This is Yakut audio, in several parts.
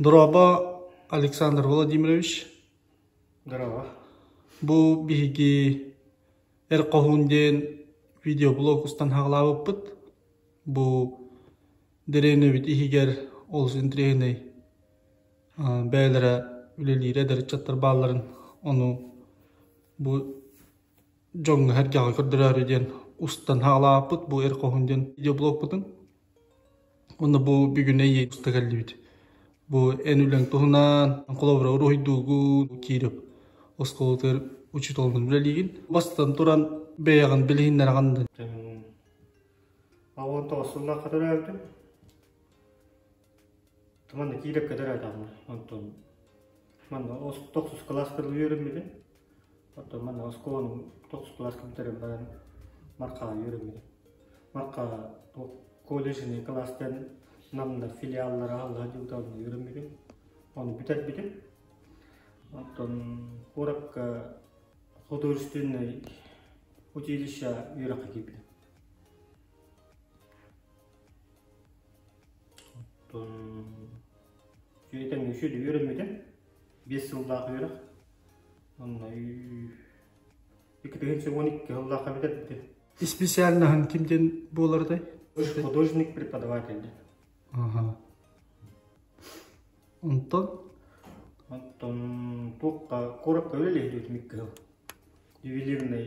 Дороба, Александр Владимирович. Здорово. Бу биһиги эр хоһуун диэн видеоблог устан хаалаабыппыт. Бу дэриэнэбит иһигэр олус интэриэһинэй бэйэлэрэ үлэлиир эдэр ыччаттар баалларын, ону бу дьоҥҥо сэргэҕэ көрдөрөөрү диэн устан саҕалаабыппыт бу Эр хоһун диэн видеоблогпутун. Уонна бу бүгүн эйи уста кэллибит. Бу эн үлэҥ туһунан холобура уруһуйдуугун киирип оскуолатыгар учууталынан үлэлиигин. Бастан туран бэйэҕин билиһиннэрэҕин да А уон тоҕус сыллаахха төрөөбүтүм. Манна киирэ кэдэрээтэҕим онтон манна тохсус кылааска үөрэммитим. Оттон манна оскуоланы тохсус кылааска бүтэрэн баран Мархаҕа үөрэммитим. Мархаҕа колледжный кылаас диэн Намна филиаллар аһыллар дьылдалын үөрэммитим. Оны бүтэрбитим. Оттон куоракка художественный училище үөрэххэ киирбитим. Үөтэ мүчү үөрэммитэ биэс сыллаах үөрэх онно екі тыһыынча уон икки сыллаах эбитэ дитэ испециальноһын кимдин буоларытай художник преподаватель дин аха онтон оттон туохха куоракка үлэлэһириутим икки сыл ювелирный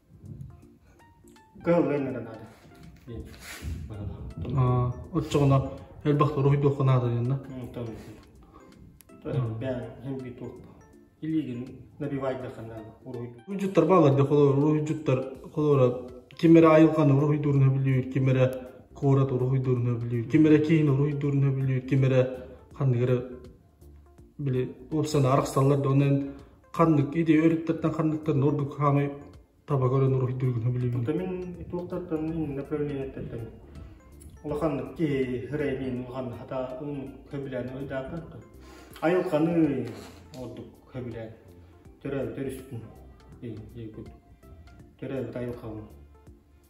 Кыһыллыан эрэ наада диэн аа оччоҕуна элбэх торуһуйдуохха наада диэнна Онтон бээн хэмби туох илиигин набивайдахана уруһуйду Уруһуйдьуттар баалар да холобур уруһуйдьуттар холобура ким эрэ айылҕаны уруһуйдуурун сөбүлүүр ким эрэ куорат уруһуйдуурун сөбүлүүр ким эрэ киин уруһуйдуурун сөбүлүүр ким эрэ ханнык эрэ били уопсана арахсаллар да онон ханнык ити өрүттэртэн ханныктан ордук хаамай таба көрөн уруһуйдуургун сөбүлүүбүн. Ата мин туохтартан мин направлениеттертэн улаханнык киһи рэймин улахан хата ун хөбүлээн ойдаатан то айылканы ордук хөбүлээн төрөөбүт өрүспүн ейгут төрөөбүт айылкабын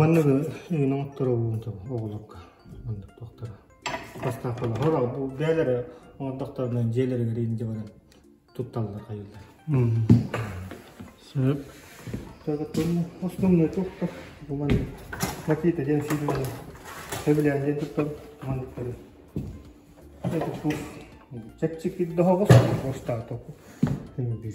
маннык игин оҥотторобун оҕолорго маннык туохтара бастаахпалар бээлери оҥордохторуна дьиэлэригэр инде баран тутталлар хайыллар сөп основной туохта бу маннык макита ден сильный хэбилээн диэн туттан манныктары чэпчэки доһоҕос бостаатоку bir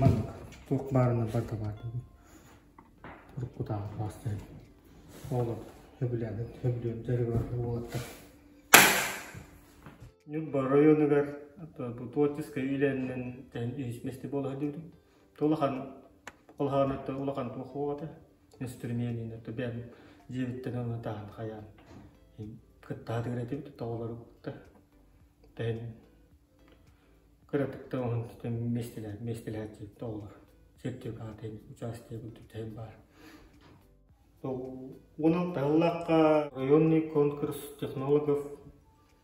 Манан туох баарына бардабаатыбын уруккутааҕы маастарым оҕолор сөбүлээбит сөбүлүөн дьарыгар уолаттар Ньурба оройуонугар Тулатическай иилээнинэн тэһин иһитиннэстии буолаһа диибитин то улахан улахан өттө улахан туох уоҕата инструменина то бэйэм дьиэбиттэн ылына таһан хайаан кыттаатыгар этибит тоҕолору кытта тэһин кыратык да уһун миэстэлэһэр миэстэлэһээччи тоҕолор сертификат аатыйын участие бүттүтэһин баар то уон алта ыллахха районный конкурс технологов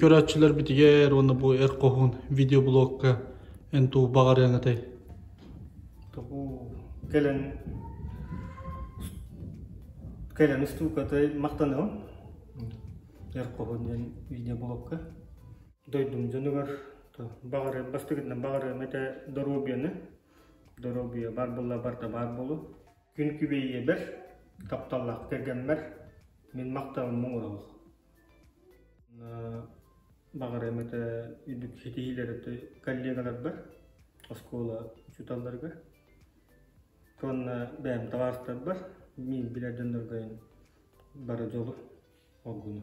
көрөөччүлэр битигэр уонна бу эр хоһуун видеоблогка эн туу баҕарыаҥытай кэлэн кэлэн устуукатай махтаныам эр хоһуун диэн видеоблогка дойдум дьонугар баҕарыам бастыгытынан баҕарыам этэ доруобуйаны доруобуйа бар буолла барда баар буолу Күн күбэйиэбэр, тапталлаах кэргэммэр мин махталыммын ылабын. Баҕарым этэ үрдүк ситиһиилэр этэ коллегаларбар, оскуола учууталларга. Уонна бэйэм табаарыстарбар мин билэр дьоннорго бары дьолу, оргуну.